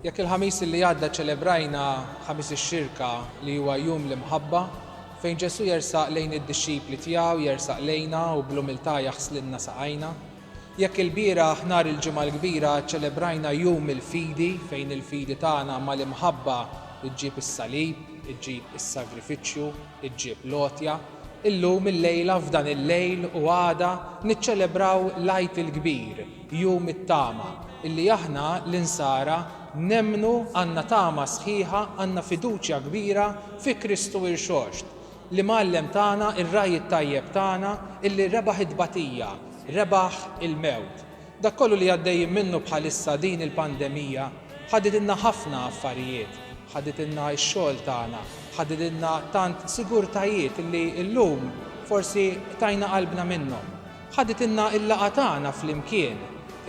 Jekk il-Ħamis li għadda ċċelebrajna Ħamis ix-Xirka li huwa jum l-imħabba, fejn Ġesù jersaq lejn id-dixxipli tiegħu, jersaq lejna u bl-umiltà jaħslilna saqajna. Jekk ilbieraħ nhar il-Ġimgħa l-Kbira ċċelebrajna jum il-fidi fejn il-fidi tagħna mal-imħabba ġġib is-salib, iġġib is-sagrifiċċju, Iġġib l-għotja, Illum il-lejla f'dan il-lejl u għada niċċelebraw l-Għid il-Kbir, Jum it-Tama, illi aħna l-Insara nemmnu għandna tama sħiħa għandna fiduċja kbira fi Kristu Irxoxt, l-Imgħallem tagħna, ir-Ragħaj it-Tajjeb tagħna illi rebaħ it-tbatija, rebaħ il-mewt. Dak kollu li għaddejjin minnu bħalissa din il-pandemija ħaditilna ħafna affarijiet, ħaditilna x-xogħol tagħna, ħaditilna tant sigurtajiet li llum forsi qtajna qalbna minnhom. Ħaditilna l-laqgħa tagħna flimkien,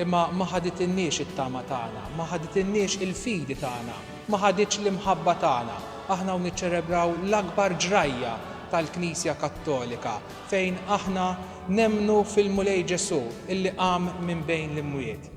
imma ma ħaditilniex it-tama tagħna, ma ħaditilniex il-fidi tagħna, ma ħaditx l-imħabba tagħna. Aħna hawn niċċelebraw l-akbar ġrajja tal-Knisja Kattolika, fejn aħna nemmnu fil-Mulej Ġesù illi qam minn bejn l-imwiet.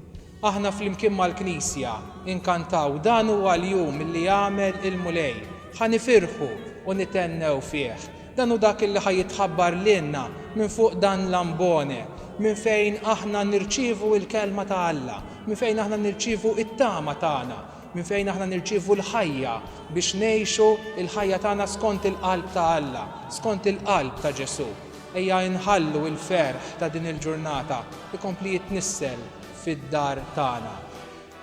Aħna flimkien mal-Knisja inkantaw Dan huwa l-jum illi għamel il-Mulej, ħa nifirħu u nithennew fih. Dan hu dak illi ħa jitħabbar lilna minn fuq dan l-ambone, minn fejn aħna nirċievu l-Kelma ta' Alla, minn fejn aħna nirċievu t-tama tagħna. minn fejn aħna nirċievu l-ħajja biex ngħixu l-ħajja tagħna skont il-qalb ta' Alla, skont il-qalb ta' Ġesù. Ejja inħallu l-ferħ ta' din il-ġurnata jkompli jitnissel fid-dar tagħna.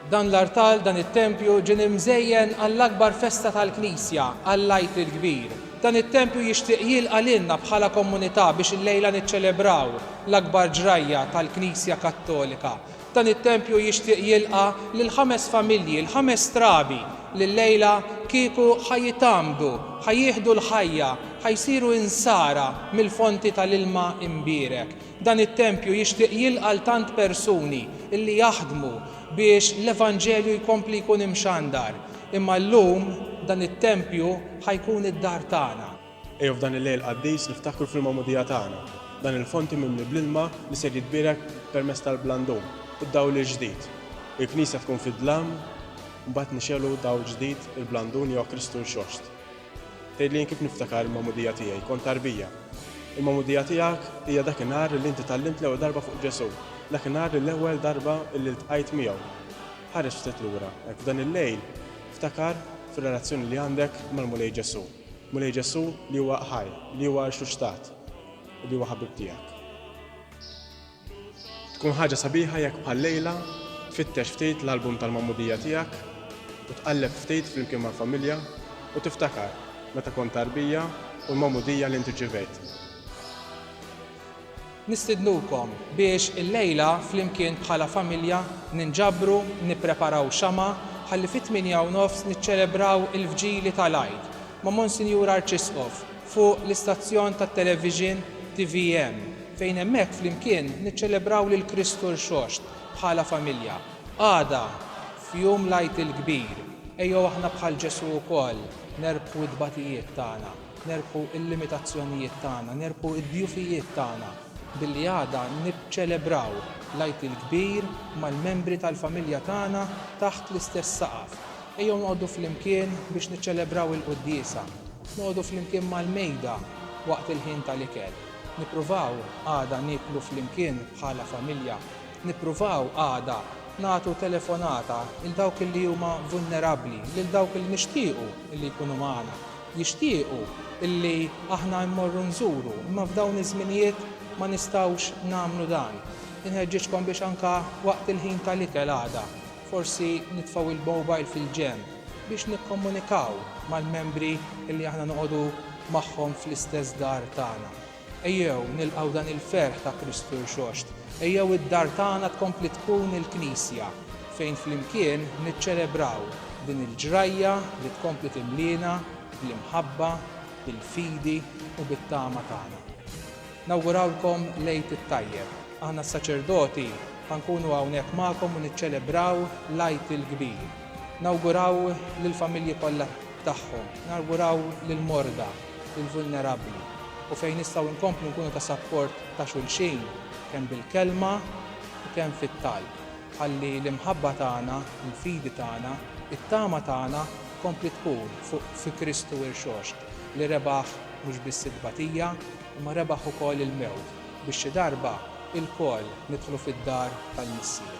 Dan l-artal, dan it-tempju ġie imżejjen għall-akbar festa tal-Knisja, għall-Għid il-Kbir. Dan it-tempju jixtieq jilqa' lilna bħala komunità biex illejla niċċelebraw l-akbar ġrajja tal-Knisja Kattolika, Dan it-tempju jixtieq jilqa' lil ħames familji, l-ħames trabi li llejla kieku ħa jitgħammdu, ħa jieħdu l-ħajja, ħa jsiru insara mill-fonti tal-ilma imbierek. Dan it-tempju jixtieq jilqa' l-tant persuni li jaħdmu biex l-Evanġelju jkompli jkun imxandar. Imma llum dan it-tempju ħa jkun id-dar tagħna. Ejjew f'dan il-lejl qaddis niftakru fil-magħmudija tagħna, dan il-fonti mimli bl-ilma li ser jitbierek permezz tal-blandum, id-dawl il-ġdid. Il-Knisja tkun fid-dlam, mbagħad nixegħlu dawl ġdid, il-blandun jew Kristu rxoxt. Tgħidli jien kif niftakar il-magħmudija tiegħi, kont tarbija. Il-magħmudija tiegħek hija dak in-nhar li inti tgħallimt l-ewwel darba fuq Ġesù, dak in-nhar li l-ewwel darba li ltqajt miegħu. Ħares ftit lura, hekk f'dan il-lejl, ftakar fir-relazzjoni li għandek mal-Mulej Ġesù. Mulej Ġesù, li huwa ħaj, li huwa rxuxtat, u li huwa ħabib tiegħek. Tkun ħaġa sabiħa jekk bħal-lejla tfittex ftit l-album tal-magħmudija tiegħek u tqalleb ftit flimkien mal-familja u tiftakar meta kont tarbija u l-magħmudija li int irċivejt. Nistidnukom biex illejla flimkien bħala familja ninġabru nippreparaw xama' ħalli fit-tmienja u nofs niċċelebraw il-vġili tal-Għid ma' Monsinjur Arċisqof fuq l-istazzjon tat-televixin tvm fejn hemmhekk flimkien niċċelebraw lil Kristu Rxoxt bħala familja. Għada f'jum l-Għid il-Kbir ejjew aħna bħal Ġesù wkoll nerbħu t-tbatijiet tagħna. Nerbħu l-limitazzjonijiet tagħna, nerbħu d-djufijiet tagħna billi għada niċċelebraw l-Għid il-Kbir mal-membri tal-familja tagħna taħt l-istess saqaf. Ejjew noqogħdu flimkien biex niċċelebraw il-quddiesa. Noqogħdu flimkien mal-mejda waqt il-ħin tal-ikel. Nippruvaw għada nieklu flimkien bħala familja. Nippruvaw għada nagħtu telefonata 'l dawk li huma vulnerabbli, lil dawk li nixtiequ li jkunu magħna. jixtiequ illi aħna mmorru nżuru, imma f'dawn iż-żminijiet ma nistgħux nagħmlu dan. Inħeġġiġkom biex anke waqt il-ħin tal-ikel għada, forsi nitfgħu il-mobile fil-ġenb biex nikkomunikaw mal-membri illi aħna noqogħdu magħhom fl-istess dar tagħna. Ejjew nilqgħu dan il-ferħ ta' Kristu Rxoxt. Ejjew id-dar tagħna tkompli tkun il-Knisja, fejn flimkien niċċelebraw din il-ġrajja li tkompli timliena bl-imħabba, bil-fidi u bit-tama tagħna. Nawgurawlkom l-Għid it-Tajjeb. Aħna s-saċerdoti ħa nkunu hawnhekk magħkom u niċċelebraw l-Għid il-kbir. Nawguraw lill-familji kollha tagħhom. Nawguraw lill-morda. lill-vulnerabbli u fejn nistgħu nkomplu nkunu ta' sapport ta' xulxin kemm bil-kelma u kemm fit-talb, ħalli l-imħabba tagħna, il-fidi tagħna, it-tama tagħna tkompli tkun fuq fi Kristu Irxoxt li rebaħ mhux biss it-tbatija imma rebaħ ukoll il-mewt biex xi darba ilkoll nidħlu fid-dar tal-Missier.